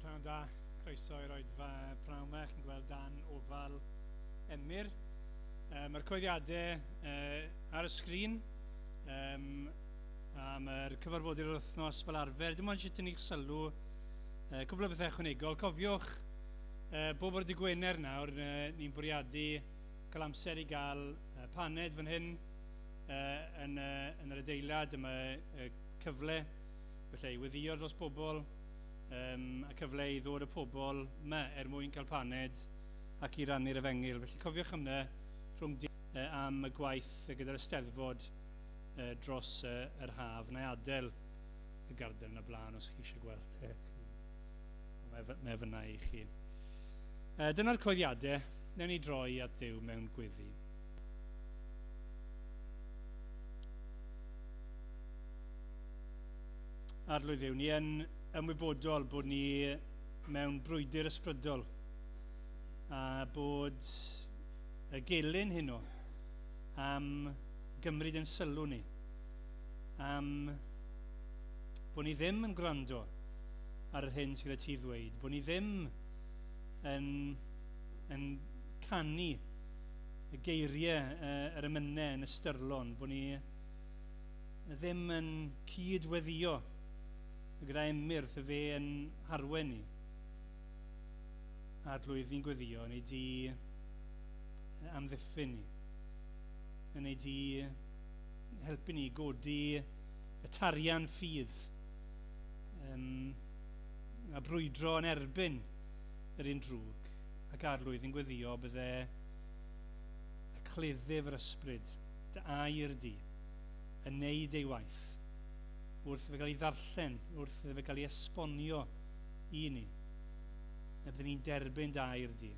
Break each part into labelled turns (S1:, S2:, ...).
S1: Pnawn da, croeso i'r oedfa pnawn ma, chi'n gweld dan ofal Emyr. Um, Mae'r coeddiadau uh, ar y sgrin um, a mae'r cyfarfodydd yr wythnos fel arfer. Dim ond eisiau tynnu'ch sylw uh, cwbl o bethau ychwanegol. Cofiwch uh, bob o'r digwener nawr, uh, ni'n bwriadu cael amser i gael uh, paned fan hyn uh, yn, uh, yn yr adeilad. Dyma uh, cyfle felly i weddïo dros bobl Yym, a cyfle i ddod â pobl 'ma er mwyn cael paned ac i rannu'r Efengyl. Felly cofiwch am 'na rhwng di yy am y gwaith gyda'r Eisteddfod yy dros yy yr haf. Wna i adael y garden yna blaen os chi eisiau gweld e. Mae fy- mae e fynna i chi. Yy, dyna'r coeddiadau. Newn ni droi at Dduw mewn gweddi. Arlwydd yw, ni yn ymwybodol bod ni mewn brwydr ysbrydol a bod y gelyn hyn o am gymryd yn sylw ni, am bod ni ddim yn gwrando ar yr hyn sydd gyda ti ddweud, bod ni ddim yn, yn canu y geiriau uh, yr emynau yn ystyrlon, bod ni ddim yn cyd-weddio gyda emyrth y fe yn harwen ni. Arglwydd, ni'n gweddio yn ei di amddiffyn ni, yn ei di helpu ni godi y tarian ffydd um, a brwydro yn erbyn yr un drwg. Ac arlwydd yn gweddïo bydde y cleddyf yr ysbryd, dy air di, yn neud ei waith, wrth iddo fe gael ei ddarllen, wrth iddo fe gael ei esbonio i ni, y bydden ni'n derbyn dy air di,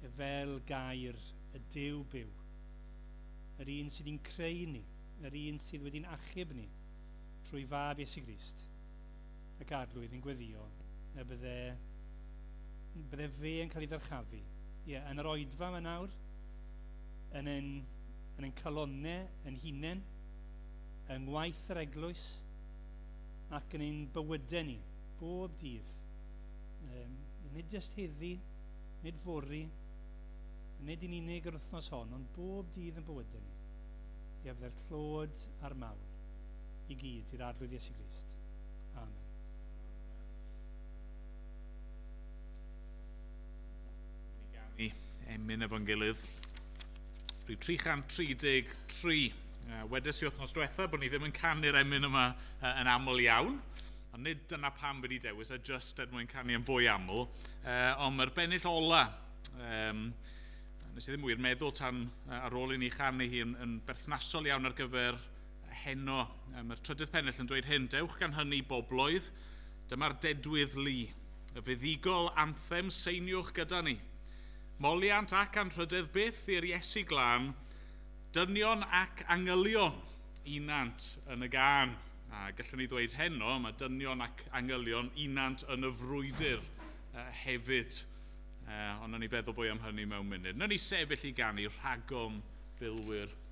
S1: ef fel gair y Duw byw, yr un sydd i'n creu ni, yr un sydd wedi'n achub ni, trwy fab Iesu Grist. ac Arglwydd yn gweddïo y bydde... bydde fe yn cael ei ddyrchafu. Ie, yn yr oedfa yma nawr, yn ein, yn ein calonnau yn hunain, yng ngwaith yr eglwys, ac yn ein bywydau ni, bob dydd. Um, nid jyst heddi, nid fori, nid yn unig yr wythnos hon, ond bob dydd yn bywydau ni. Ie, bydde'r clod a'r mawl i gyd i'r Arglwydd Iesu Grist. Grist.
S2: Amen. Ni gawn ni emyn efo'n gilydd. Rhyw 333. Uh, wedes i wythnos diwetha bod ni ddim yn canu'r emyn yma uh, yn aml iawn. Ond nid dyna pam wedi dewis, a just er mwyn canu yn fwy aml. Uh, ond mae'r bennill ola, um, nes i ddim wir meddwl tan uh, ar ôl i ni chanu hi yn, yn berthnasol iawn ar gyfer heno. Yy, mae'r trydydd pennill yn dweud hyn, Dewch gan hynny, bobloedd, dyma'r dedwydd lu, y fuddugol anthem seiniwch gyda ni. Moliant ac anrhydedd byth i'r Iesu glân, dynion ac angylion unant yn y gân. A gallwn ni ddweud heno, mae dynion ac angylion unant yn y frwydr uh, hefyd. Uh, ond ni feddwl bwy am hynny mewn munud. Nw'n ni sefyll i ganu rhagom filwyr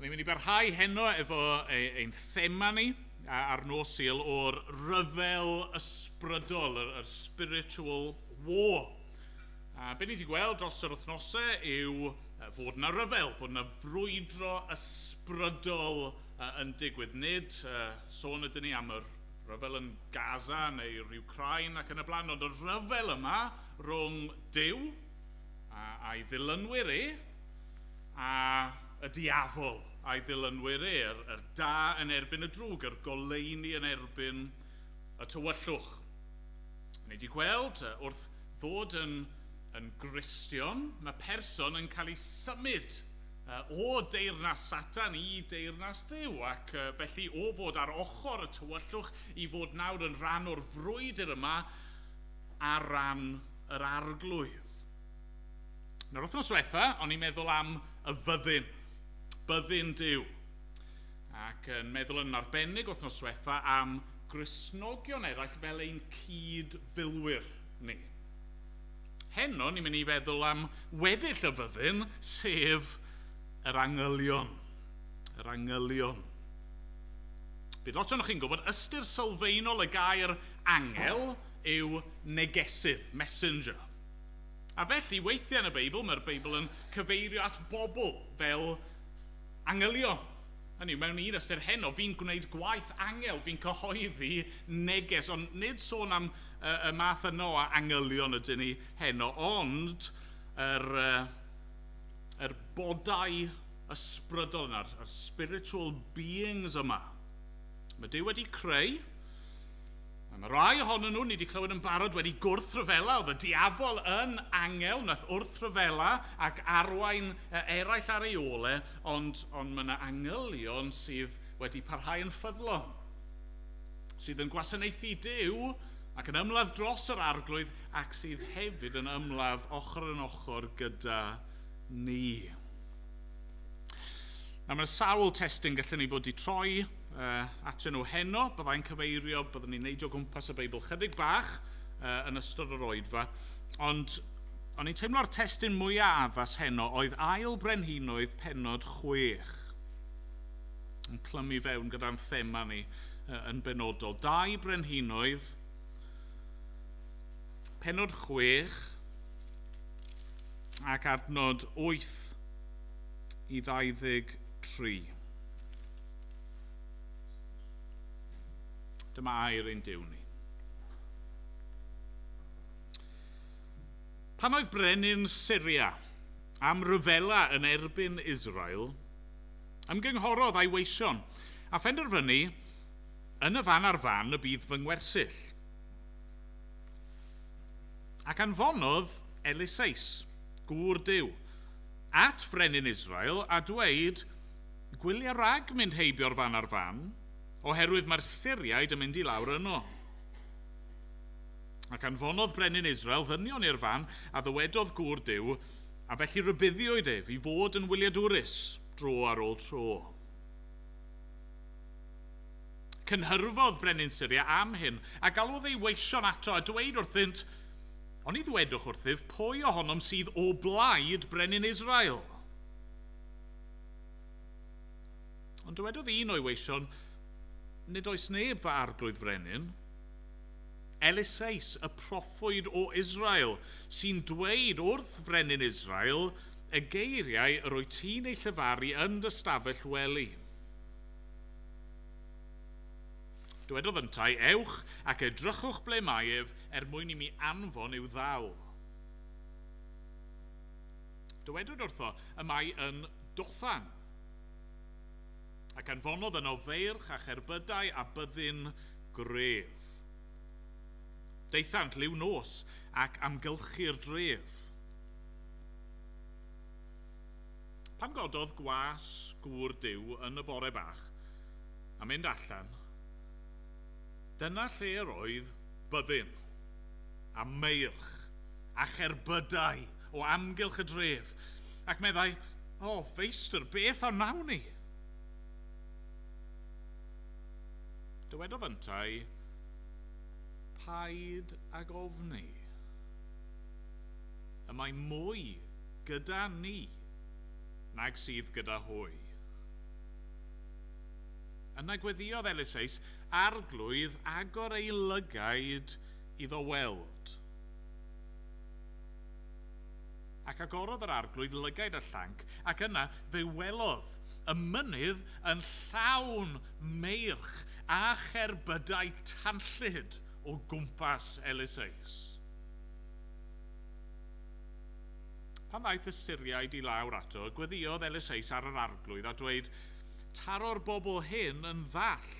S2: Ni'n mynd i barhau heno efo e, ein thema ni ar nos Sul o'r rhyfel ysbrydol, yr, yr spiritual war. A be ni wedi gweld dros yr wythnosau yw fod yna rhyfel, fod yna frwydro ysbrydol yn digwydd. Nid uh, sôn ydyn ni am yr rhyfel yn Gaza neu'r Ukraine ac yn y blaen, ond y rhyfel yma rhwng Dyw a, a'i ddilynwyr e, a y diafol a'i ddilynwyr e, yr, yr da yn erbyn y drwg, yr goleuni yn erbyn y tywyllwch. Ni wedi gweld wrth ddod yn, yn Gristion, mae person yn cael ei symud o deyrnas Satan i deyrnas Dduw, ac felly o fod ar ochr y tywyllwch i fod nawr yn rhan o'r frwydr yma ar ran yr Arglwydd. Nawr, wythnos diwetha, o'n i'n meddwl am y fyddin, byddin Duw, ac yn meddwl yn arbennig wythnos diwetha am Gristnogion eraill fel ein cyd-filwyr ni. Heno, ni'n mynd i feddwl am weddill y fyddin, sef yr angylion. Yr angylion. Bydd lot o'n chi'n gwybod ystyr sylfaenol y gair angel, yw negesydd, messenger. A felly, weithiau yn y Beibl, mae'r Beibl yn cyfeirio at bobl fel angylion. Hynny yw, mewn un ystyr heno, fi'n gwneud gwaith angel, fi'n cyhoeddi neges, ond nid sôn am uh, y math yno o angylion ydyn ni heno, ond yr, uh, yr bodau ysbrydol yna, yr spiritual beings yma. Mae Dyw wedi creu, Mae 'na rai ohonyn nhw, ni 'di clywed yn barod, wedi gwrthryfela. Oedd y diafol yn angel wnaeth wrthryfela ac arwain e, eraill ar ei ôl e, ond, ond mae 'na angylion sydd wedi parhau yn ffyddlon, sydd yn gwasanaethu Duw ac yn ymladd dros yr arglwydd ac sydd hefyd yn ymladd ochr yn ochr gyda ni. Nawr mae sawl testyn gallen ni fod i troi uh, atyn nhw heno. Byddai'n cyfeirio, byddwn ni'n neidio gwmpas y Beibl chydig bach uh, yn ystod yr oedfa. Ond o'n i'n teimlo'r testyn mwyaf addas heno oedd ail brenhinoedd penod chwech yn clymu fewn gyda'n thema ni uh, yn benodol. Dau brenhinoedd penod chwech ac adnod 8 i 23. Dyma air ein Duw ni. Pan oedd brenin Syria am ryfela yn erbyn Israel, ymgynghorodd a'i weision, a phenderfynu, yn y fan ar fan y bydd fy ngwersyll. Ac anfonodd Eliseus, gŵr Duw, at frenin Israel, a dweud, Gwylia rhag mynd heibio'r fan a'r fan, oherwydd mae'r Syriaid yn mynd i lawr yno. Ac anfonodd brenin Israel ddynion i'r fan a ddywedodd gŵr Duw, a felly rybuddiwyd ef i fod yn wyliadwrus dro ar ôl tro. Cynhyrfodd brenin Syria am hyn, a galwodd ei weision ato, a dweud wrthynt, Oni ddwedwch wrthyf pwy ohonom sydd o blaid brenin Israel? Ond dywedodd un o'i weision, Nid oes neb, fy arglwydd frenin, Eliseus, y proffwyd o Israel, sy'n dweud wrth frenin Israel y geiriau yr wyt ti'n eu llefaru yn dy stafell wely. Dywedodd yntau, Ewch ac edrychwch ble mae ef, er mwyn i mi anfon i'w ddal. Dywedwyd wrtho, Y mae yn Dothan. Ac anfonodd yno feirch a cherbydau a byddin gref. Daethant liw nos ac amgylchu'r dref. Pan gododd gwas gŵr Duw yn y bore bach a mynd allan, dyna lle yr oedd byddin, a meirch, a cherbydau o amgylch y dref, ac meddai, O, Feistr, beth a wnawn ni? Dywedodd yntau, Paid ag ofni. Y mae mwy Gyda ni, nag sydd gyda hwy. Yna gweddïodd Eliseus arglwydd agor ei lygaid iddo weld. Ac agorodd yr arglwydd lygaid y llanc, ac yna fe welodd y mynydd yn llawn meirch a cherbydau tanllyd o gwmpas Eliseus. Pan ddaeth y Syriaid i lawr ato, gweddïodd Eliseus ar yr arglwydd a dweud, Taro'r bobl hyn yn ddall.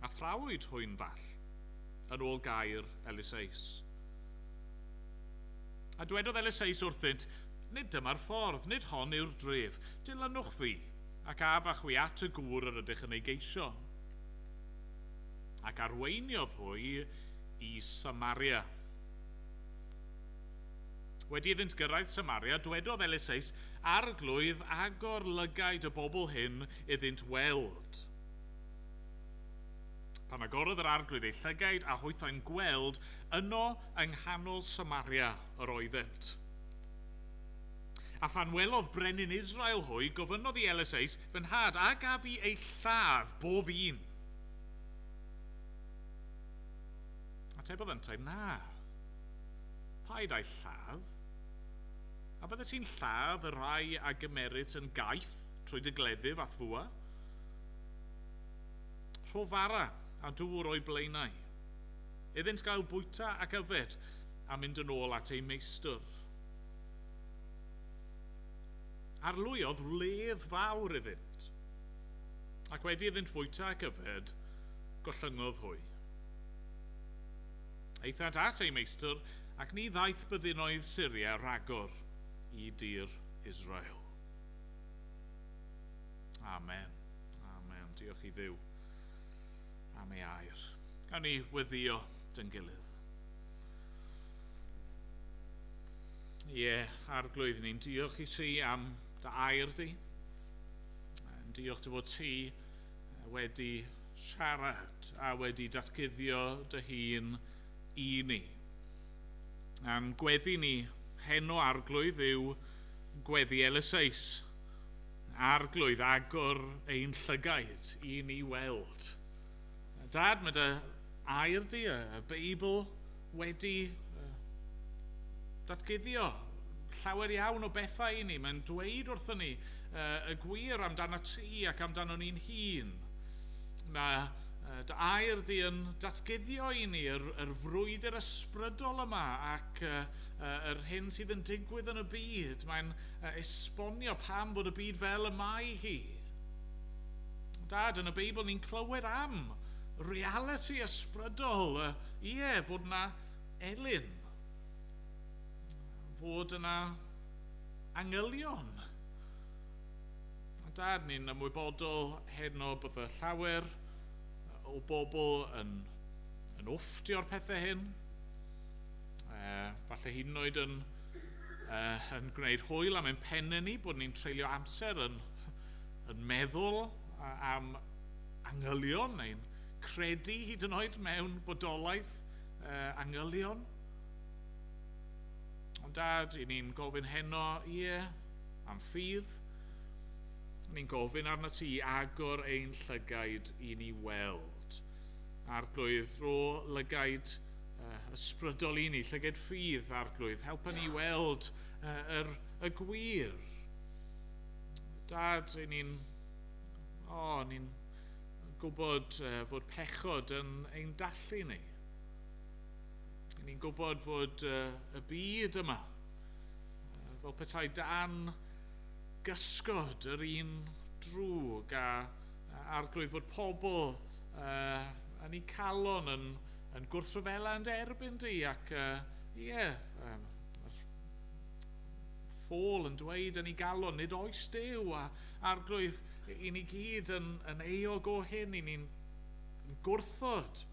S2: A thrawyd hwy'n ddall, yn ôl gair Eliseus. A dwedodd Eliseus wrthynt, Nid dyma'r ffordd, nid hon yw'r dref, dilynwch fi, ac af â chwi at y gŵr yr ydych yn ei geisio. Ac arweiniodd hwy i Samaria. Wedi iddynt gyrraedd Samaria, dwedodd Eliseus, Arglwydd, agor lygaid y bobl hyn iddynt weld. Pan agorodd yr arglwydd eu llygaid a hwythau'n gweld, yno yng nghanol Samaria yr oeddent. A phan welodd brenin Israel hwy, gofynnodd i Eliseus, Fy nhad, a gaf i eu lladd bob un? Atebodd yntau, Na. Paid â'i lladd. A fyddet ti'n lladd y rhai a gymeryd yn gaeth trwy dy gleddyf a'th fwa? Rho fara a dŵr o'i blaenau, iddynt gael bwyta ac yfed, a mynd yn ôl at eu meistr. Arlwyodd wledd fawr iddynt, ac wedi iddynt fwyta ac yfed, gollyngodd hwy. Aethant at eu meistr, ac ni ddaeth byddinoedd Syria rhagor i dir Israel. Amen. Amen. Diolch i Dduw am ei air. Gawn ni weddio dyn gilydd. Ie, yeah, arglwydd, ni'n diolch i ti am dy air di. Yn diolch dy fod ti wedi siarad a wedi datguddio dy hun i ni. A'n gweddi ni heno, Arglwydd, yw gweddi Eliseus. Arglwydd, agor ein llygaid i ni weld. Dad, mae dy air di, y Beibl, wedi datguddio llawer iawn o bethau i ni. Mae'n dweud wrthyn ni y gwir amdano ti ac amdano ni'n hun. Mae dy air di yn datguddio i ni yr, yr frwydr ysbrydol yma ac yr hyn sydd yn digwydd yn y byd. Mae'n esbonio pam fod y byd fel y mae hi. Dad, yn y Beibl ni'n clywed am reality ysbrydol y Ie, fod yna elyn. Fod yna angylion. Da, ni'n ymwybodol heno bod y llawer o bobl yn, yn offtio'r pethau hyn. E, falle hyd yn oed yn, e, yn gwneud hwyl am ein pennau ni bod ni'n treulio amser yn, yn meddwl am angylion neu'n Credu hyd yn oed mewn bodolaeth uh, angylion. Ond dad, i ni'n gofyn heno, ie, yeah, am ffydd. Ni'n gofyn arno ti i agor ein llygaid i ni weld. Arglwydd, ro lygaid uh, ysbrydol i ni, llyged ffydd, arglwydd. Helpa ni weld uh, yr, y gwir. Dad, i ni'n... O, oh, ni'n gwybod fod pechod yn ein dallu ni. Yn ni'n gwybod fod y byd yma fel petai dan gysgod yr un drwg a arglwydd fod pobl yn ei calon yn, yn gwrthryfela yn derbyn di ac uh, ie, yeah, ffôl yn dweud yn ei galon nid oes dew a Arglwydd, i ni gyd yn, yn eog o hyn, i ni'n gwrthod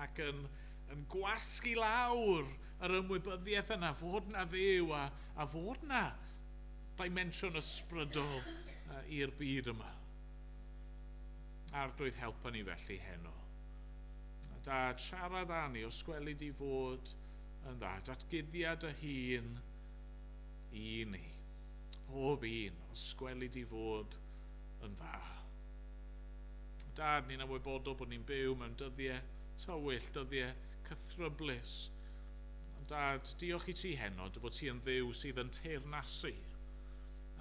S2: ac yn, yn gwasgu lawr yr ymwybyddiaeth yna fod na Dduw a, a fod na dimensiwn ysbrydol uh, i'r byd yma. Arglwydd, helpa ni felly heno. Dad, siarad â ni os gweli di fod yn dda. Datguddia dy hun i ni. Pob un, os gweli di fod yn dda. Dad, ni'n ymwybodol bod ni'n byw mewn dyddie tywyll, dyddie cythryblus. Ond Dad, diolch i ti heno, dy fod ti yn Dduw sydd yn teyrnasu.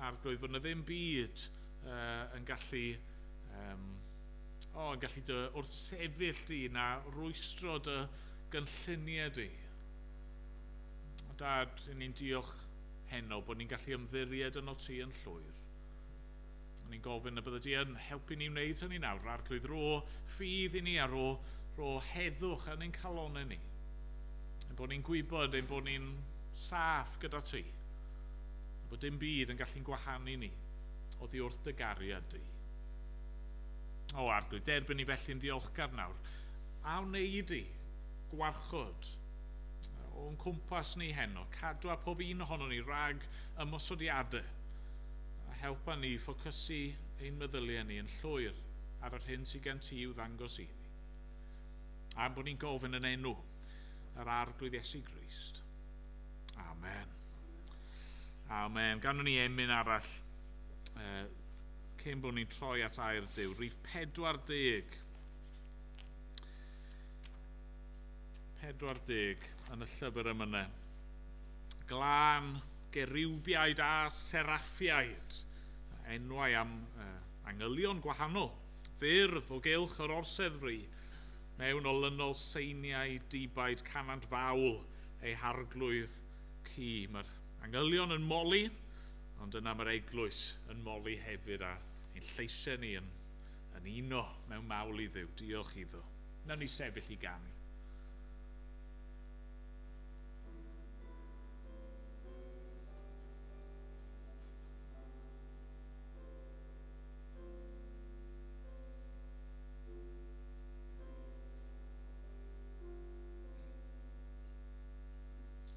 S2: Arglwydd, bod na ddim byd uh, yn gallu... Um, o, yn gallu dy wrthsefyll di na rwystro dy gynlluniau di. Dad, ni'n diolch heno bod ni'n gallu ymddiried yno ti yn llwyr. O'n i'n gofyn y bydde di yn helpu ni wneud hynny nawr, yr arglwydd ro ffydd i ni a ro, ro heddwch yn ein calonau ni. Ein bod ni'n gwybod ein bod ni'n saff gyda ti, a bod dim byd yn gallu'n gwahanu ni oddi wrth dy gariad di. O, arglwydd, derbyn ni felly'n ddiolchgar nawr, a wneud i, gwarchod, o'n cwmpas ni heno, cadw a pob un ohono ni rhag ymosodiadau, a helpa ni ffocysu ein meddyliau ni yn llwyr ar yr hyn sydd gen ti i'w ddangos i ni. A'n bod ni'n gofyn yn enw yr Arglwydd Iesu Grist. Amen. Amen. Ganwn ni emyn arall uh, cyn bod ni'n troi at air Dyw. Rif 40. 40 yn y llyfr emyne, glân, gerubiaid a seraffiaid, enwau am angylion gwahanol, ffyrdd o gylch yr orsedd fri, mewn olynol seiniau dibaid canant fawl ei harglwydd ci, mae'r angylion yn moli, ond yna mae'r eglwys yn moli hefyd, a ein lleisiau ni yn Yn uno mewn mawl i Dduw, diolch iddo. Nawn ni sefyll i ganu.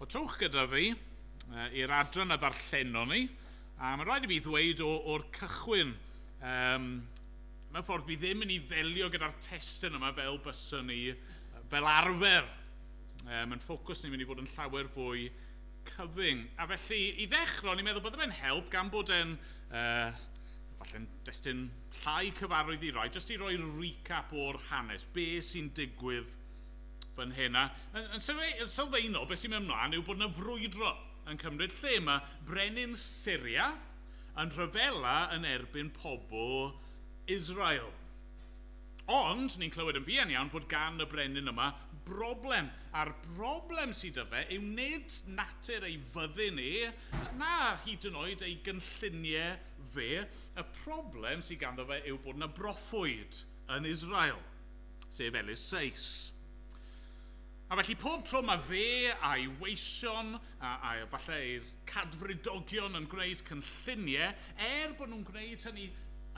S2: O trwch gyda fi uh, i'r adran a ddarllenon ni, a mae'n rhaid i fi ddweud o'r cychwyn, um, mewn ffordd fi ddim yn ei ddelio gyda'r testyn yma fel byswn ni, fel arfer. Um, yn ffocws ni'n mynd i fod yn llawer fwy cyfyng. A felly, i ddechrau, ni'n meddwl bod fe'n help gan bod e'n uh, falle'n destun llai cyfarwydd i roi, jyst i roi recap o'r hanes, be sy'n digwydd fan hyn. A yn, yn sylfaenol, beth sy'n mynd ymlaen yw bod yna frwydro yn cymryd lle. Mae brenin Syria yn rhyfela yn erbyn pobl Israel. Ond, ni'n clywed yn fuan iawn fod gan y brenin yma broblem, a'r broblem sydd â fe yw nid natur ei fyddin e, na hyd yn oed ei gynlluniau fe, y problem sydd ganddo fe yw bod yna broffwyd yn Israel. sef Elis Seis. A felly pob tro mae fe a'i weision a, a falle ei cadfridogion yn gwneud cynlluniau, er bod nhw'n gwneud hynny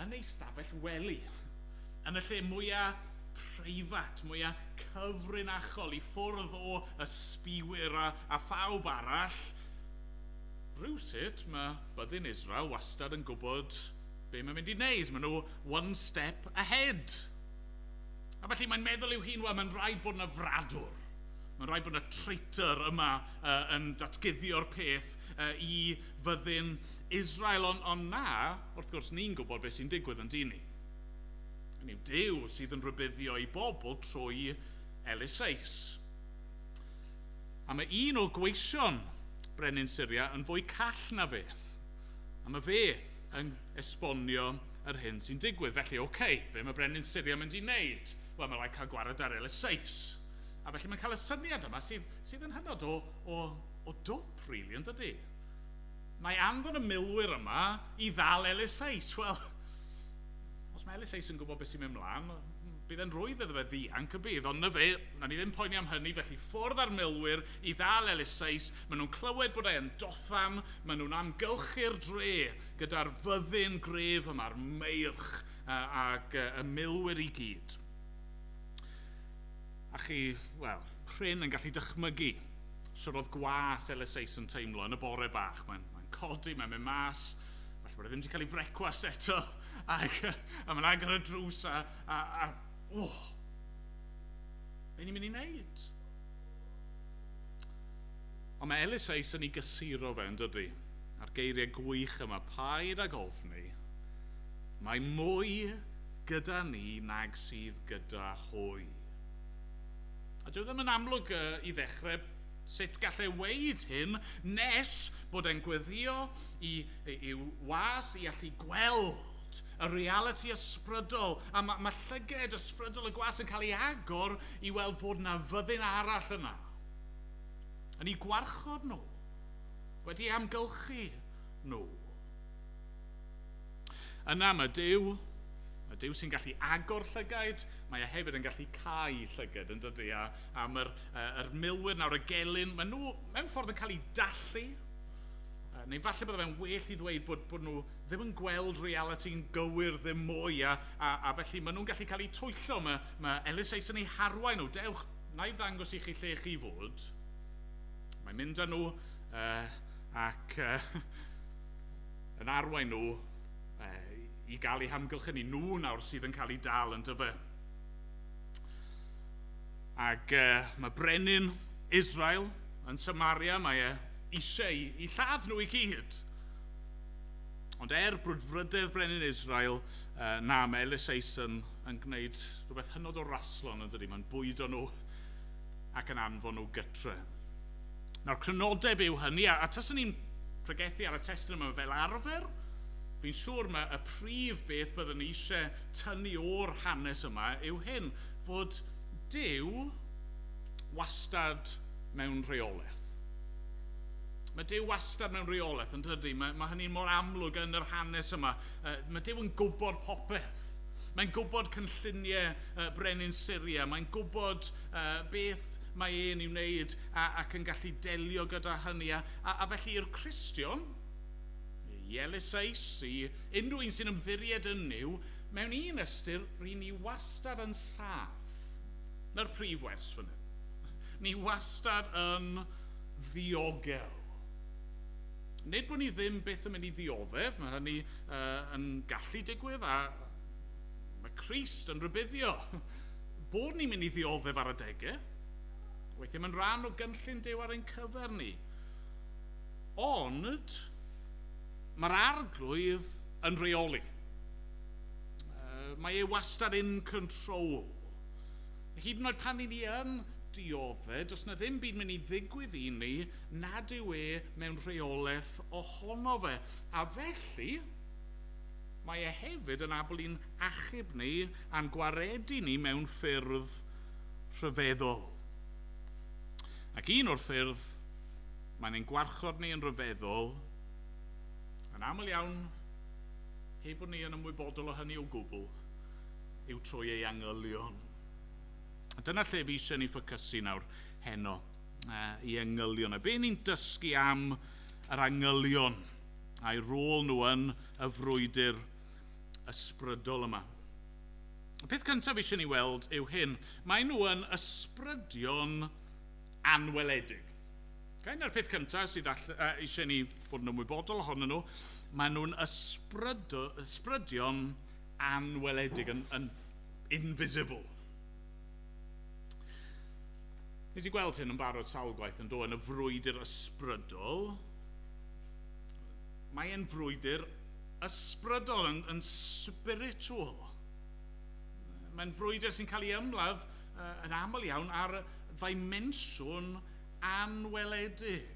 S2: yn ei stafell wely, yn y lle mwyaf preifat, mwyaf cyfrinachol i ffwrdd o ysbiwyr a, a phawb arall, rhywsut mae byddin Israel wastad yn gwybod be mae'n mynd i wneud. Maen nhw one step ahead. A felly mae'n meddwl i'w hun, wel, mae'n rhaid bod yna fradwr. Mae'n rhaid bod yna traitor yma uh, yn datguddio'r peth uh, i fyddin Israel. Ond on na, wrth gwrs, ni'n gwybod beth sy'n digwydd yn dyn ni. Yn yw Dyw sydd yn rhybuddio i bobl trwy Eliseis. A mae un o gweision brenin Syria yn fwy call na fe. A mae fe yn esbonio yr hyn sy'n digwydd. Felly, OK, be mae Brenin Syria yn mynd i wneud? Wel, mae rhaid cael gwared ar Elysseus. A felly mae'n cael y syniad yma sydd, sydd yn hynod o, o, o dwp, rili, really, yn dydy? Mae anfon y milwyr yma i ddal Elysseus. Wel, os mae Elysseus yn gwybod beth sy'n mynd mlaen, bydd e'n rwydd iddo fe ddianc y bydd, ond na fe, na ni ddim poeni am hynny, felly ffwrdd â'r milwyr i ddal Elysseus, Maen nhw'n clywed bod e yn Dothan, maen nhw'n amgylchu'r dre gyda'r fyddin gref yma'r meirch ag y milwyr i gyd. A chi, wel, prin yn gallu dychmygu sut oedd gwas Eliseus yn teimlo yn y bore bach. Mae'n mae codi, mae'n mynd mas, falle bod e ddim wedi cael ei frecwast eto, ac, a mae'n agor y drws a, a, a oh, be ni'n mynd i wneud? Ond mae Elis Rees yn ei gysuro fe, yn dydi? A'r geiriau gwych yma, paid ag ofni, mae mwy gyda ni nag sydd gyda hwy. A dyw e ddim yn amlwg i ddechrau sut gall e weud hyn nes bod e'n gweddïo i i'w was i allu gweld y realiti ysbrydol, a ma', ma' llyged ysbrydol y gwas yn cael ei agor i weld fod 'na fyddin arall yna, yn eu gwarchod nhw, wedi eu hamgylchu nhw. Yna mae Duw, y Duw sy'n gallu agor llygaid, mae e hefyd yn gallu cau llyged, yn dydy, a, a mae'r uh, er milwyr nawr y gelyn, maen nhw mewn ffordd yn cael eu dallu, uh, neu falle bod fe'n well i ddweud bod, bod nhw ddim yn gweld realiti yn gywir ddim mwy a, a, a felly maen nhw'n gallu cael eu twyllo. Mae, mae Ellis Ace yn eu harwain nhw. Dewch, na i ddangos i chi lle chi fod. Mae'n mynd â nhw uh, ac uh, yn arwain nhw uh, i gael eu hamgylch yn nhw nawr sydd yn cael eu dal yn dyfa. Ac uh, mae brenin Israel yn Samaria, mae e eisiau i lladd nhw i gyd. Ond er brwdfrydedd brenin Israel, uh, na, mae Elis Eisen yn gwneud rhywbeth hynod o raslon yn dydy. Mae'n bwydo nhw ac yn anfon nhw gytre. Nawr, crynodeb yw hynny, a, a taswn ni'n pregethu ar y testyn yma fel arfer, fi'n siŵr mae y prif beth byddwn ni eisiau tynnu o'r hanes yma yw hyn, fod Dyw wastad mewn rheolaeth. Mae Duw wastad mewn reolaeth, yn dydy? Mae, mae hynny mor amlwg yn yr hanes yma. Uh, mae Duw yn gwybod popeth. Mae'n gwybod cynlluniau uh, brenin Syria. Mae'n gwybod uh, beth mae e'n ei wneud a, ac yn gallu delio gyda hynny. A, a, a felly i'r Cristion, i Elisais, i unrhyw un sy'n ymddiried yn yw, mewn un ystyr, rydyn ni wastad yn saff. Na'r prif wers fan hyn. Ni wastad yn ddiogel. Nid bod ni ddim byth yn mynd i ddioddef, mae hynny uh, yn gallu digwydd, a mae Christ yn rhybuddio bod ni'n mynd i ddioddef ar adegau. Weithiau mae'n rhan o gynllun Dyw ar ein cyfer ni. Ond mae'r arglwydd yn rheoli. Uh, mae e wastad in control. Hyd yn oed pan ry'n ni yn diodde', does 'na ddim byd mynd i ddigwydd i ni nad yw e mewn rheolaeth ohono fe. A felly, mae e hefyd yn abl i'n achub ni a'n gwaredu ni mewn ffyrdd rhyfeddol. Ac un o'r ffyrdd mae'n ein gwarchod ni yn ryfeddol, yn aml iawn, heb bod ni yn ymwybodol o hynny o gwbl, yw trwy ei angylion. A dyna lle fi eisiau ni ffocysu nawr heno, uh, i angylion. A be ni'n dysgu am yr angylion a'i rôl nhw yn y frwydr ysbrydol yma. Y peth cyntaf fi eisiau ni weld yw hyn. Mae nhw yn ysbrydion anweledig. Okay? Na'r peth cyntaf sydd all, uh, eisiau ni fod yn ymwybodol ohonyn nhw. Mae nhw'n ysbrydion anweledig, yn, yn invisible. Ni wedi gweld hyn yn barod sawl gwaith yn do, yn y frwydr ysbrydol. Mae e'n frwydr ysbrydol, yn, yn spiritual. Mae'n frwydr sy'n cael ei ymladd uh, yn aml iawn ar ddimensiwn anweledig.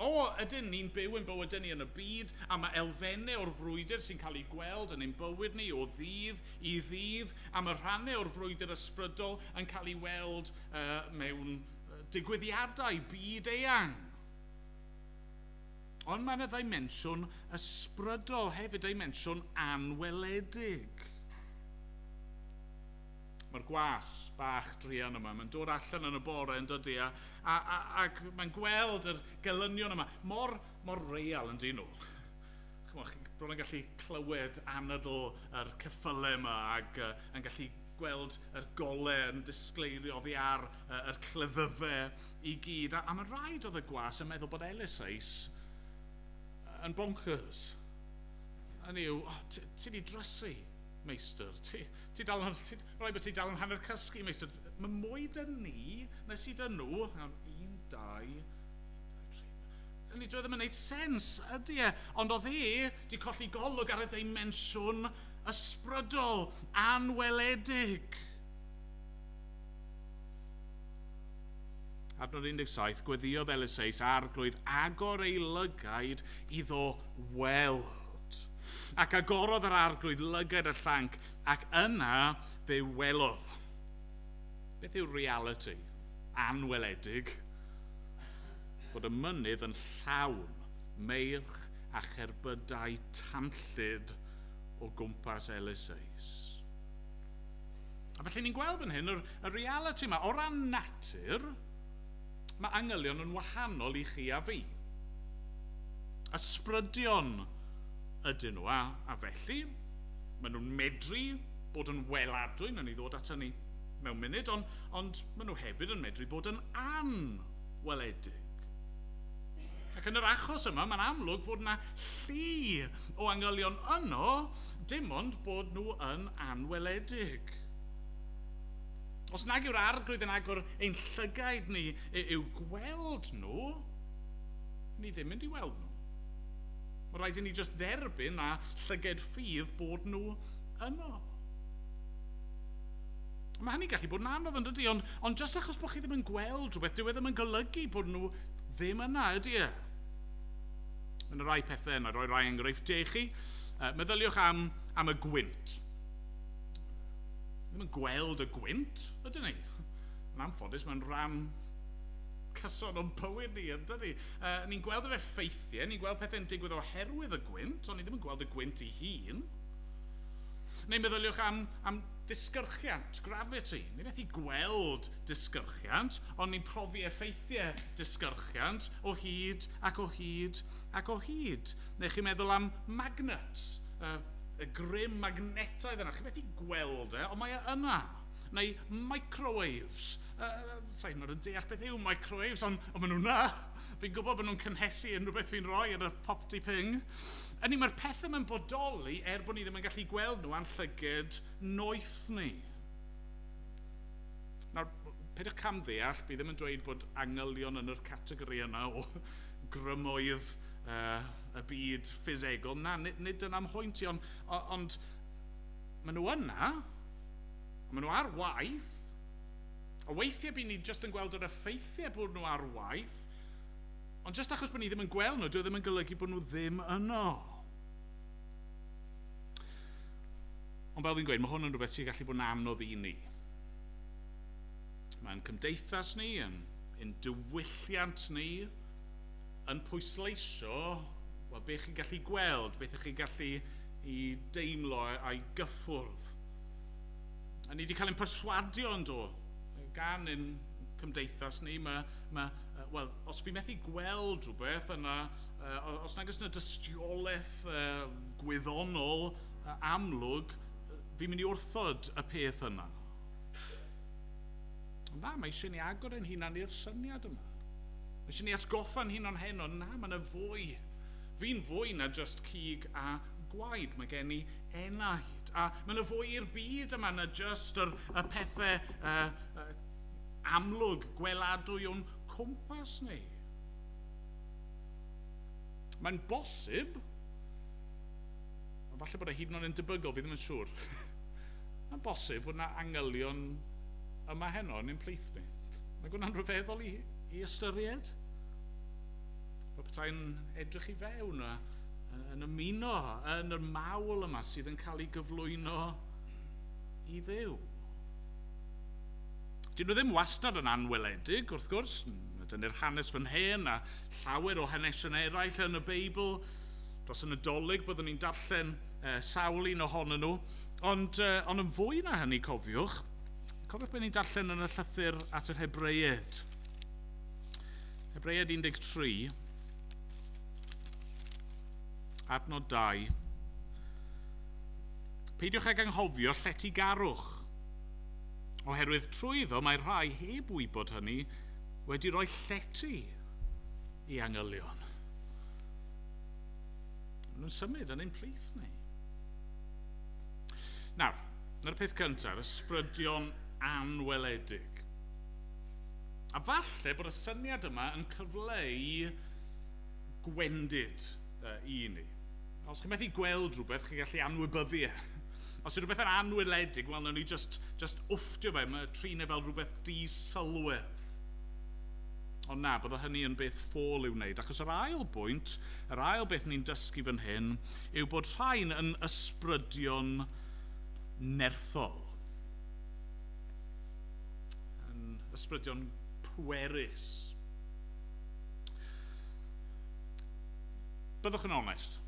S2: O, ydyn, ni'n byw ein bywydau ni yn y byd, a mae elfennau o'r frwydr sy'n cael eu gweld yn ein bywyd ni o ddydd i ddydd, a mae rhannau o'r frwydr ysbrydol yn cael ei weld uh, mewn digwyddiadau byd-eang. Ond mae yna ddimensiwn ysbrydol hefyd, dimensiwn anweledig. Mae'r gwas bach druan yma, mae'n dod allan yn y bore yn dydy, a, a, a, ac mae'n gweld yr gelynion yma, mor, mor real yn dyn nhw. Chymod, chi'n bron yn gallu clywed anadl yr ceffylau yma ac uh, yn gallu gweld yr gole yn disgleirio oddi ar uh, yr cleddyfe i gyd. A, a mae'n rhaid oedd y gwas yn meddwl bod Ellis Ace yn bonkers. Hynny yw, oh, ti wedi drysu, meistr. Ti, Ti dal yn... ti... mae'n rhaid bod ti dal yn hanner cysgu, meistr. Mae mwy 'da ni na sy 'da nhw. Iawn, un, dau, un, dau, tri. Hynny, dyw e ddim yn wneud sens, ydy e? Ond oedd e 'di colli golwg ar y dimensiwn ysbrydol, anweledig. Adnod 17, Gweddïodd Eliseus, Arglwydd, agor ei lygaid iddo weld. ac agorodd yr arglwydd lygad y llanc, ac yna fe welodd. Beth yw'r realiti anweledig? Bod y mynydd yn llawn meirch a cherbydau tanllyd o gwmpas Eliseus. A felly ni'n gweld fan hyn yr, y realiti yma. O ran natur, Mae angylion yn wahanol i chi a fi. Ysbrydion ydyn nhw, a, a felly, maen nhw'n medru bod yn weladwy, wnawn ni ddod at hynny mewn munud, ond, ond maen nhw hefyd yn medru bod yn anweledig. Ac yn yr achos yma, mae'n amlwg fod yna llu o angylion yno, dim ond bod nhw yn anweledig. Os nag yw'r Arglwydd yn agor ein llygaid ni i'w gweld nhw, ni ddim mynd i weld nhw. Mae rhaid i ni jyst dderbyn a llyged ffydd bod nhw yno. Mae hynny'n gallu bod yn anodd yn dydy, ond, ond jyst achos bod chi ddim yn gweld rhywbeth, dyw e ddim yn golygu bod nhw ddim yna, ydy e? Mae yna rai pethau yna, roi rai enghreifftiau i chi. Uh, meddyliwch am, am y gwynt. ddim yn gweld y gwynt, ydyn ni? Yn anffodus, mae'n rhan cyson o'n bywyd ni, ydyn ni? Uh, ni'n gweld yr effeithiau, ni'n gweld pethau'n digwydd oherwydd y gwynt, ond ni ddim yn gweld y gwynt ei hun. Neu meddyliwch am, am disgyrchiant, gravity. Ni methu gweld disgyrchiant, ond ni'n profi effeithiau disgyrchiant o hyd ac o hyd ac o hyd. Neu chi'n meddwl am magnets. y, y grym magnetaidd yna, chi methu gweld e, ond mae e yna. Neu microwaves. Uh, Sa'n hynod yn deall beth yw microwaves, ond, ond maen nhw'n na. Fi'n gwybod bod nhw'n cynhesu unrhyw beth fi'n rhoi yn y popty ping. Yni, mae'r pethau mae'n bodoli er bod ni ddim yn gallu gweld nhw a'n llyged noeth ni. Nawr, peidiwch cam ddeall, fi ddim yn dweud bod angylion yn yr categori yna o grymoedd uh, y byd ffisegol, na, nid, nid dyna'n mhwynt i, ond, ond maen nhw yna, a maen nhw ar waith, a weithiau byd ni jyst yn gweld yr effeithiau bod nhw ar waith, ond jyst achos bod ni ddim yn gweld nhw, dwi e ddim yn golygu bod nhw ddim yno. Ond fel fi'n gweud, mae hwn yn rhywbeth sy'n gallu bod yn anodd i ni. Mae'n cymdeithas ni, yn, yn diwylliant ni, yn pwysleisio wel, beth chi'n gallu gweld, beth ych chi'n gallu i deimlo a'i gyffwrdd. A ni wedi cael ein perswadio yn do, gan ein cymdeithas ni, mae, mae, wel, os fi methu gweld rhywbeth yna, os nag oes yna dystiolaeth gwyddonol amlwg, fi'n mynd i wrthod y peth yna. Na, mae eisiau ni agor ein hunan i'r syniad yma. Mae eisiau ni atgoffa'n hunan heno, na, mae yna fwy. Fi'n fwy na just cig a gwaed, mae gen i enaid. A mae yna fwy i'r byd yma na just yr, y pethau uh, uh, amlwg, gweladwy o'n cwmpas ni. Mae'n bosib Ond falle bod e hyd yn oed yn debygol, fi ddim yn siŵr, mae'n bosib bod yna angylion yma heno yn ein plith ni. Mae hwnna'n rhyfeddol i, i ystyried. Mae petai'n edrych i fewn a yn ymuno yn yr mawl yma sydd yn cael ei gyflwyno i ddew. Dyn nhw ddim wastad yn anweledig, wrth gwrs. Dyna'r hanes fan hen a llawer o hanesion eraill yn y Beibl. dros y Nadolig, byddwn ni'n darllen uh, sawl un ohonyn nhw. Ond, uh, ond yn fwy na hynny, cofiwch, cofiwch beth ni'n darllen yn y llythyr at yr Hebreid. Hebreid 13, adnod 2. Peidiwch ag anghofio lletygarwch, oherwydd trwy iddo mae rhai heb wybod hynny wedi rhoi llety i angylion. Maen nhw'n symud yn ein plith ni. Nawr, na'r peth cyntaf, ysbrydion anweledig. A falle bod y syniad yma yn cyfleu gwendid uh, i ni. Os chi'n methu gweld rhywbeth, chi'n gallu anwybyddu e. Os yw rhywbeth yn anweledig, wel, nawn ni just, just wfftio fe, mae trin e fel rhywbeth di-sylwedd. Ond na, bydda hynny yn beth ffôl i'w wneud, achos yr ail bwynt, yr ail beth ni'n dysgu fan hyn, yw bod rhain yn ysbrydion nerthol, yn ysbrydion pwerus. Byddwch yn onest,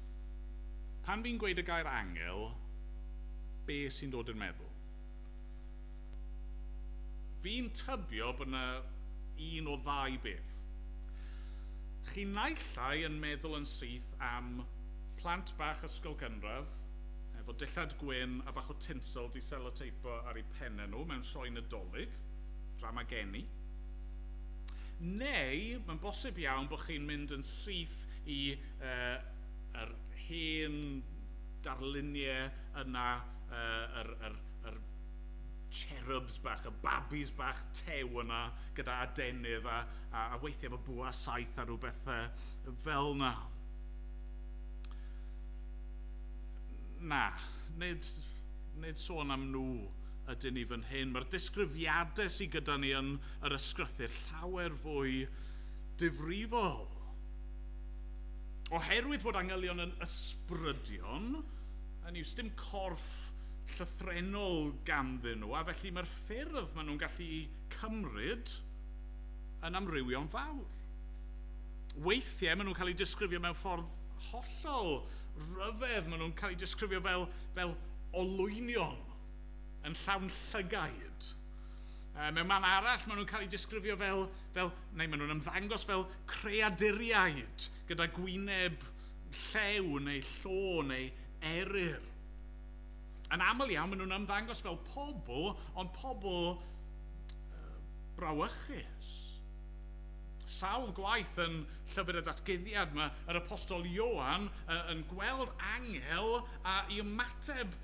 S2: pan fi'n gweud y gair angel, be sy'n dod i'r meddwl? Fi'n tybio bod 'na un o ddau beth. Chi naillai yn meddwl yn syth am plant bach ysgol gynradd efo dillad gwyn a bach o tinsel 'di seloteipo ar eu penne nhw mewn sioe Nadolig, drama geni. Neu mae'n bosib iawn bod chi'n mynd yn syth i yr hen darluniau yna yy, yr, yr, yr cherubs bach, y babis bach tew yna, gyda adenydd a, a, a weithiau fy bwa saith a rhywbeth uh, fel yna. Na, nid, nid sôn am nhw ydyn ni fan hyn. Mae'r disgrifiadau sydd gyda ni yn yr ysgrythyr llawer fwy difrifol. Oherwydd fod angylion yn ysbrydion, hynny yw, sdim corff llythrennol ganddyn nhw, a felly mae'r ffyrdd maen nhw'n gallu eu cymryd yn amrywio'n fawr. Weithiau maen nhw'n cael eu disgrifio mewn ffordd hollol ryfedd, maen nhw'n cael eu disgrifio fel, fel olwynion yn llawn llygaid. Uh, mewn man arall, maen nhw'n cael eu disgrifio fel, fel neu maen nhw'n ymddangos fel creaduriaid gyda gwyneb llew neu llo neu eryr. Yn aml iawn, maen nhw'n ymddangos fel pobl, ond pobl brawychus. Sawl gwaith yn Llyfr y Datguddiad mae yr Apostol Ioan yn gweld angel a i ymateb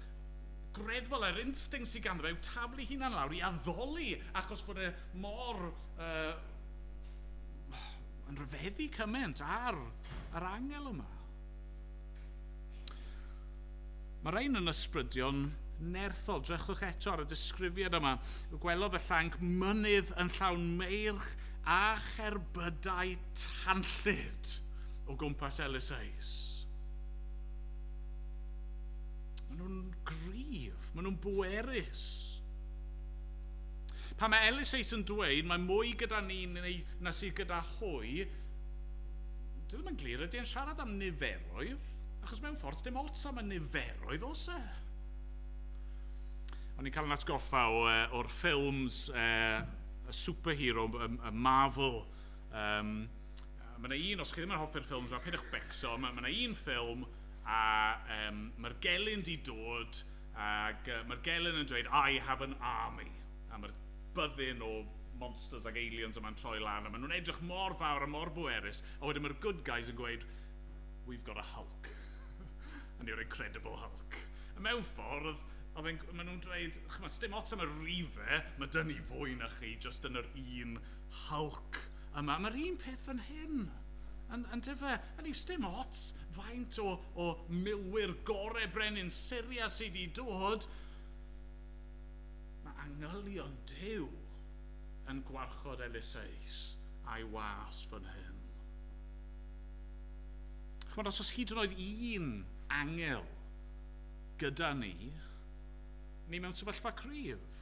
S2: greddfol yr instinct sydd ganddo fe yw taflu hunan lawr i addoli achos bod e mor uh, yn rhyfeddu cymaint ar yr angel yma. Mae rhain yn ysbrydion nerthol. Drychwch eto ar y disgrifiad yma. Gwelodd y llanc mynydd yn llawn meirch a cherbydau tanllyd o gwmpas Elysais. Maen nhw'n gryf, maen nhw'n bwerus. Pan mae Elysais yn dweud mae mwy gyda ni neu na sydd gyda hwy, Dwi ddim yn glir, ydy e'n siarad am niferoedd? Achos mewn ffordd, sdim ots am y niferoedd, oes e? O'n i'n cael yn atgoffa o, uh, o'r ffilms uh, y superhero, y, y Marvel. Um, mae yna un, os chi ddim yn hoffi'r ffilms, mae pidwch becso, mae yna un ffilm a um, mae'r gelyn di dod ac uh, mae'r gelyn yn dweud, I have an army. am yr byddin o monsters ac aliens yma'n troi lan a maen nhw'n edrych mor fawr a mor bwerus a wedyn mae'r good guys yn gweud we've got a hulk and your incredible hulk a mewn ffordd oedd e'n... maen nhw'n dweud chimod sdim ots am y rife mae dyn ni fwy na chi jyst yn yr un hulk yma a mae'r un peth fan hyn yn... yn dyfe hynny yw sdim ots faint o... o milwyr gorau brenin Syria sy' 'di dod Mae angylion Duw yn gwarchod Eliseus a'i was fan hyn. Chimod, os oes hyd yn oed un angel gyda ni, ni mewn sefyllfa cryf.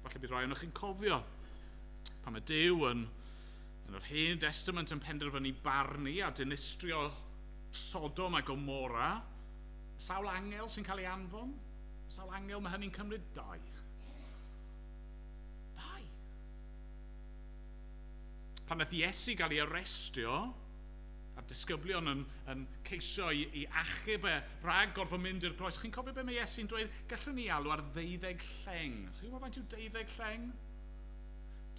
S2: Falle bydd rhai ohonoch chi'n cofio pan mae Duw yn, yn yr Hen Destament yn penderfynu barnu a dinistrio Sodom a Gomora, Sawl angel sy'n cael ei anfon? Sawl angel mae hynny'n cymryd? Dau. Dau. Pan nath Iesu gael ei arestio, a'r disgyblion yn, yn ceisio i, i achub e rhag gorfod mynd i'r groes, chi'n cofio beth mae Iesu'n dweud? Gallwn ni alw ar ddeuddeg lleng. Chi'n gwybod faint yw deuddeg lleng?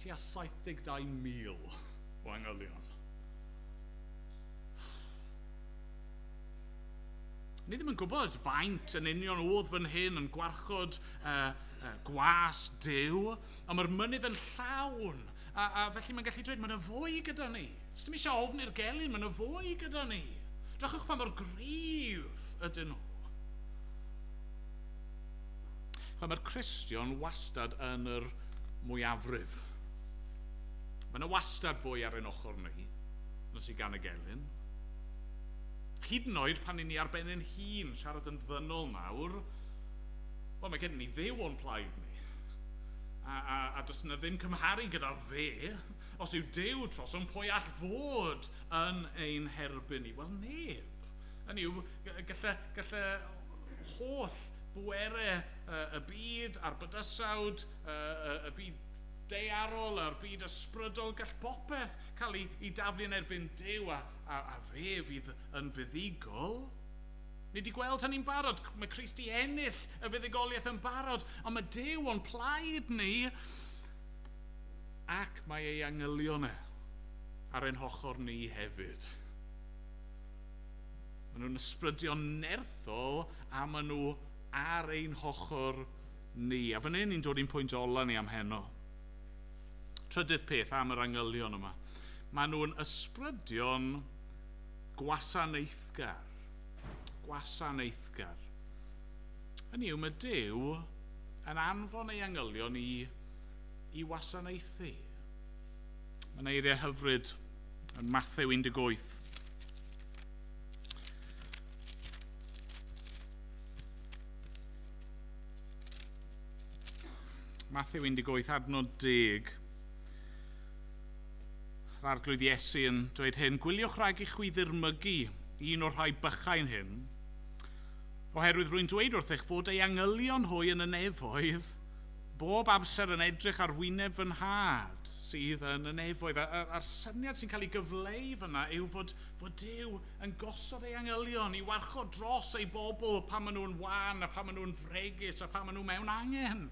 S2: Ti a 72,000 o angylion. Ni ddim yn gwybod faint yn union oedd fan hyn yn gwarchod uh, uh, gwas dew, ond mae'r mynydd yn llawn, a, a felly mae'n gallu dweud, mae yna fwy gyda ni. Os dim eisiau ofn i'r gelyn, mae yna fwy gyda ni. Drychwch pa mor gryf ydyn nhw. Mae'r Cristion wastad yn yr mwyafrif. Mae yna wastad fwy ar ein ochr ni, nos i gan y gelyn. hyd yn oed pan 'yn ni ar ben ein hun, siarad yn ddynol nawr, wel, mae gennym ni Dduw o'n plaid ni. A, a, a does yna ddim cymharu gyda fe. Os yw Duw trosom, pwy all fod yn ein herbyn ni? Wel, neb. Hynny yw, gallai, gallai holl bwerau y byd a'r bydysawd, y, y, y byd daearol a'r byd ysbrydol, gall popeth cael ei, ei daflu yn erbyn Duw, a, A fe fydd yn fuddugol? Ni 'di gweld hynny'n barod. Mae Christ 'di ennill y fuddugoliaeth yn barod, ond mae Duw o'n plaid ni, ac mae ei angylion e ar ein hochor ni hefyd. Maen nhw'n ysbrydion nerthol a maen nhw ar ein hochor ni. A fan hyn ni'n dod i'n pwynt ola ni am heno. Trydydd peth am yr angylion yma, maen nhw'n ysbrydion gwasanaethgar. Gwasanaethgar. Hynny yw, mae Duw yn anfon ei angylion i, i wasanaethu. Mae yna eiriau hyfryd yn Mathew 18. Matthew 18, adnod 10. Yr arglwydd Iesu yn dweud hyn, Gwyliwch rhag i chwi ddirmygu un o'r rhai bychain hyn, oherwydd rwy'n dweud wrthych fod ei angylion hwy yn y nefoedd bob amser yn edrych ar wyneb fy nhad sydd yn y nefoedd. A'r syniad sy'n cael ei gyfleu fyna yw fod, fod Dyw yn gosod ei angylion i warchod dros ei bobl pan maen nhw'n wan a pan maen nhw'n fregus a pan maen nhw mewn angen.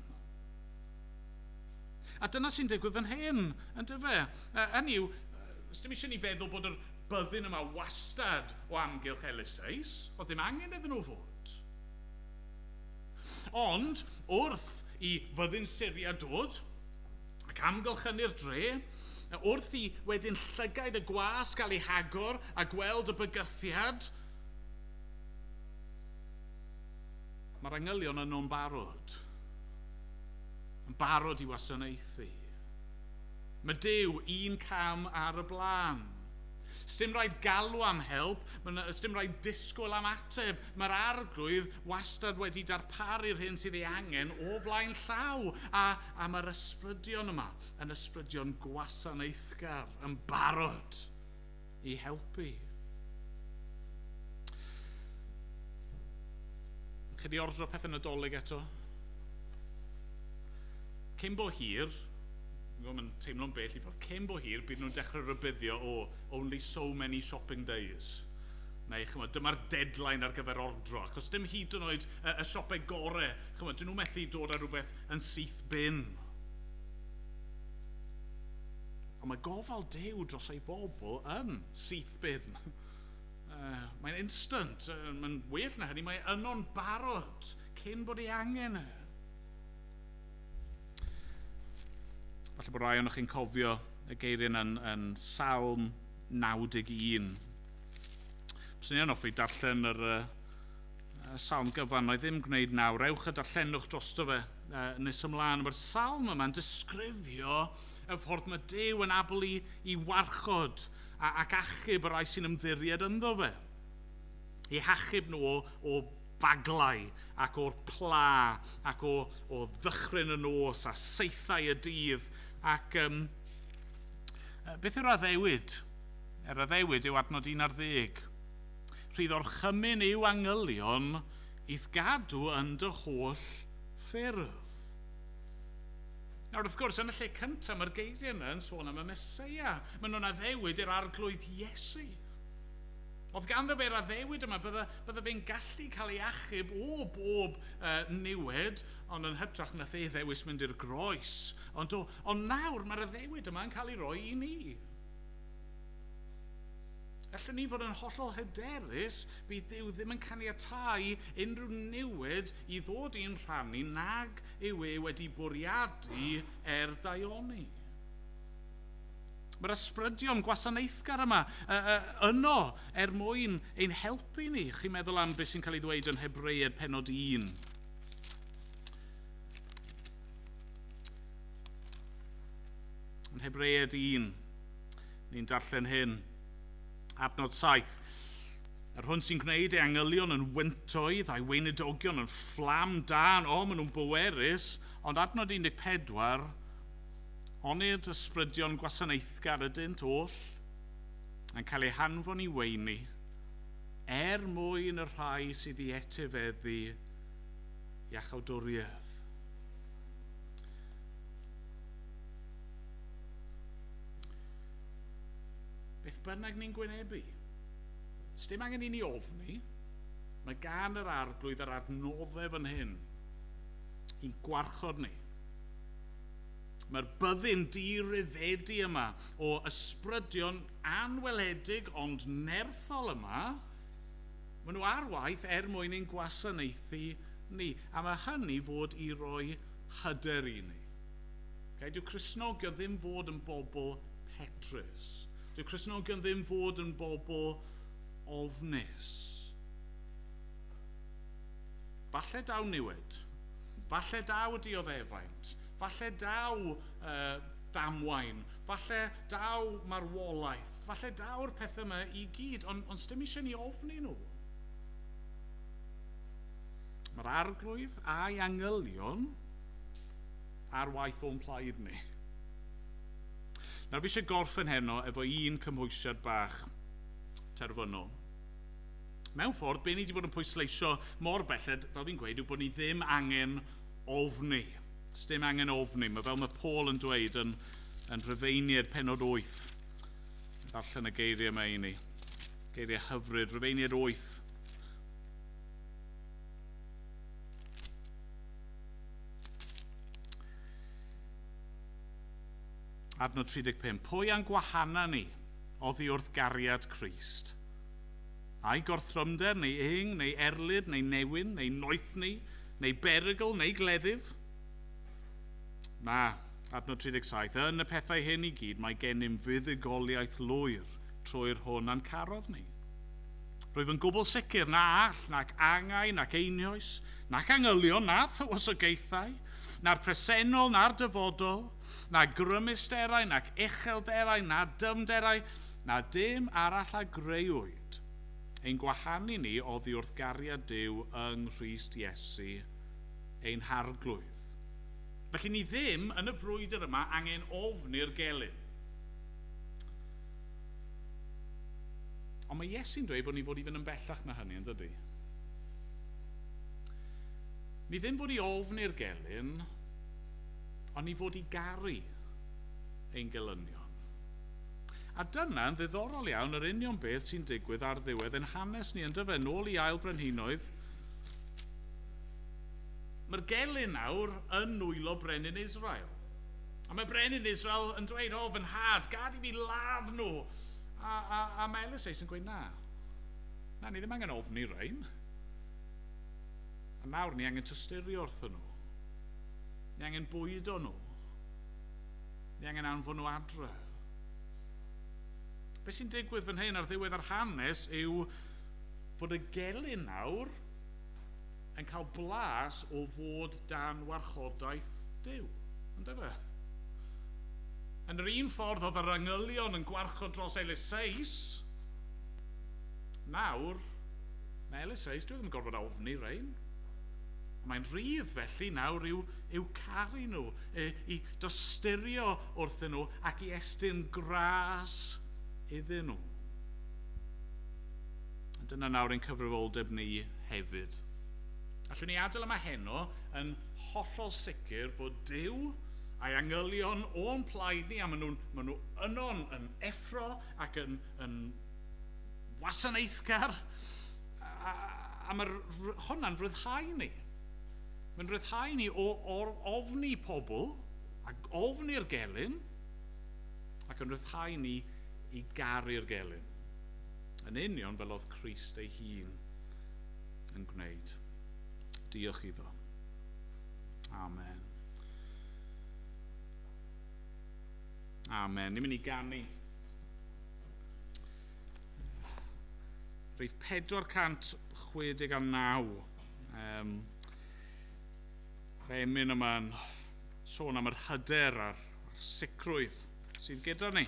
S2: A dyna sy'n digwydd fan hyn, yn dyfe? Hynny yw, os dim eisiau ni feddwl bod yr byddin yma wastad o amgylch Elisais, oedd ddim angen iddyn nhw fod. Ond, wrth i fyddin Syria dod, ac amgylchynu'r dre, wrth i wedyn llygaid y gwas gael eu hagor a gweld y bygythiad, mae'r angylion yno'n barod, yn barod i wasanaethu. Mae Duw un cam ar y blaen. Sdim rhaid galw am help, sdim rhaid disgwyl am ateb. Mae'r arglwydd wastad wedi darparu'r hyn sydd ei angen o flaen llaw, a am yr ysbrydion yma yn ysbrydion gwasanaethgar yn barod i helpu. Chi di ordro pethau nadolig eto? Cyn bo hir, mae'n teimlo'n bell i ffordd, cyn bo hir bydd nhw'n dechrau rybuddio o oh, only so many shopping days. Neu, chymod, dyma'r deadline ar gyfer ordro, achos dim hyd yn oed y, y siopau gorau, chymod, dyn nhw methu dod â rhywbeth yn syth bin. Ond mae gofal Duw dros ei bobl yn syth bin. Uh, mae'n instant, uh, mae'n well na hynny, mae yno'n barod cyn bod ei angen e. Falle bod rai o'n chi'n cofio y geiriau yn, yn Salm 91. Bys ni'n offi darllen yr, uh, Salm gyfan, wna i ddim gwneud nawr. Ewch a darllenwch drosto fe uh, nes ymlaen. Mae'r salm yma'n disgrifio y ffordd mae Dyw yn abl i, i warchod ac achub y rai sy'n ymddiried ynddo fe. I hachub nhw o, o baglau ac o'r pla ac o, o ddychryn y nos a seithau y dydd. Ac um, beth yw'r addewid? Yr addewid yw adnod 11. Rhydd orchymyn yw angylion i'th gadw yn dy holl ffyrdd. Nawr, wrth gwrs, yn y lle cyntaf, mae'r geiriau yma yn sôn am y Meseia. Maen nhw'n addewid i'r Arglwydd Iesu. Oedd ganddo fe'r addewid yma, bydda, bydda fe'n gallu cael ei achub o bob uh, niwed, ond yn hytrach nath ei ddewis mynd i'r groes. Ond, do, ond nawr mae'r addewid yma yn cael ei roi i ni. Allwn ni fod yn hollol hyderus bydd Duw ddim yn caniatáu unrhyw newid i ddod i'n rhan ni nag yw e wedi bwriadu er daioni. Mae'r ysbrydion gwasanaethgar yma yno er mwyn ein helpu ni. Chi'n meddwl am beth sy'n cael ei ddweud yn Hebreaid penod 1. Yn Hebreaid 1, ni'n darllen hyn. Adnod 7. Yr hwn sy'n gwneud ei angylion yn wyntoedd a'i weinidogion yn fflam dan, o, maen nhw'n bwerus, ond adnod 14, onid ysbrydion gwasanaethgar ydynt oll, yn cael eu hanfon i weini, er mwyn y rhai sydd i etifeddu iachawdwriaeth. Beth bynnag ni'n gwynebu, sdim angen i ni ofni, mae gan yr Arglwydd yr adnoddau fan hyn i'n gwarchod ni. Mae'r byddin di-ryddedi yma o ysbrydion anweledig ond nerthol yma, maen nhw ar waith er mwyn ein gwasanaethu ni, a mae hynny fod i roi hyder i ni. Okay? Dyw Cristnogion ddim fod yn bobl petrus. Dyw Cristnogion ddim fod yn bobl ofnus. Falle daw niwed. Falle daw y dioddefaint. Falle daw uh, damwain. Falle daw marwolaeth. Falle daw'r pethau yma i gyd, ond on stym eisiau ni ofni nhw. Mae'r arglwydd a'i angylion ar waith o'n plaid ni. Nawr fi eisiau gorffen heno efo un cymhwysiad bach terfynol. Mewn ffordd, be ni wedi bod yn pwysleisio mor belled, fel fi'n gweud, yw bod ni ddim angen ofni. Does dim angen ofni. Mae fel mae Paul yn dweud yn, yn Rhyfeiniaid penod 8. Darllen y geiriau yma i ni. Geiriau hyfryd, Rhyfeiniaid 8. Adnod 35. Pwy a'n gwahana ni oddi wrth gariad Crist? Ai gorthrymder, neu ing, neu erlid, neu newyn, neu noethni, neu berygl, neu gleddyf? Na, adnod 37. Yn y pethau hyn i gyd mae gennym fuddugoliaeth lwyr trwy'r hwn a'n carodd ni. Rwyf yn gwbl sicr na all, nac angau, nac einioes, nac angylion, na thywysogaethau, na'r presennol, na'r dyfodol, na grymusterau, nac uchelderau, na dyfnderau, na dim arall a greuwyd, ein gwahanu ni oddi wrth gariad Duw yng Nghrist Iesu ein Harglwydd. Felly ni ddim yn y frwydr yma angen ofni'r gelyn. Ond mae Iesu'n dweud bod ni fod i fynd yn bellach na hynny, yn dydy? Ni ddim fod i ofn i'r gelyn, ond ni fod i garu ein gelynion. A dyna, yn ddiddorol iawn, yr union beth sy'n digwydd ar ddiwedd yn hanes ni, yn dyfe, nôl i ail brenhinoedd. Mae'r gelyn nawr yn nwylo brenin Israel. A mae brenin Israel yn dweud, O, fy nhad, gad i fi ladd nhw. A, a, a mae Eliseus yn gweud, na, na, ni ddim angen ofni rhain. A nawr ni angen tysturio wrthyn nhw. Ni angen bwydo nhw. Ni angen anfon nhw adre. Be sy'n digwydd fan hyn ar ddiwedd yr hanes yw fod y gelyn nawr yn cael blas o fod dan warchodaeth Duw, yn dyfe? Yn yr un ffordd oedd yr angylion yn gwarchod dros Eliseus, nawr, mae Eliseus, dwi ddim yn gorfod ofni rein. Mae'n rhydd felly nawr i'w, i'w caru nhw, i, i dosturio wrthyn nhw ac i estyn gras iddyn nhw. Dyna nawr ein cyfrifoldeb ni hefyd. Allwn ni adael yma heno yn hollol sicr fod Duw a'i angylion o'n plaid ni a maen nhw'n maen nhw yno'n yn effro ac yn, yn wasanaethgar a, a, a mae hwnna'n rhyddhau ni. Mae'n rhyddhau ni o, o ofni pobl a ofni'r gelyn ac yn rhyddhau ni i garu'r gelyn. yn union fel oedd Christ ei hun yn gwneud. Diolch iddo. Amen. Amen. Ni'n mynd i ganu. Rhif 469. Um, Rhemin yma'n sôn am yr hyder a'r a'r sicrwydd sydd gyda ni,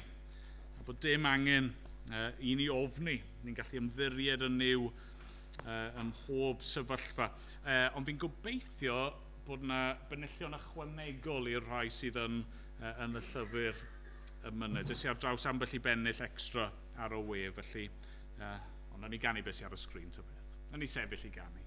S2: a bod dim angen uh, i ni ofni, ni'n gallu ymddiried yn new uh, ym mhob sefyllfa. Uh, ond fi'n gobeithio bod yna benillion ychwanegol i'r rhai sydd yn, uh, yn y llyfr y myned. Ys i ar draws ambell i bennill extra ar y we, felly, uh, ond na ni ganu beth sydd ar y sgrin ta beth. Na ni sefyll i ganu.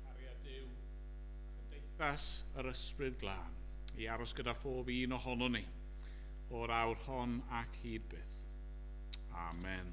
S2: cariad Duw, a chymdeithas yr Ysbryd Glân, i aros gyda phob un ohonon ni, o'r awr hon ac hyd byth. Amen.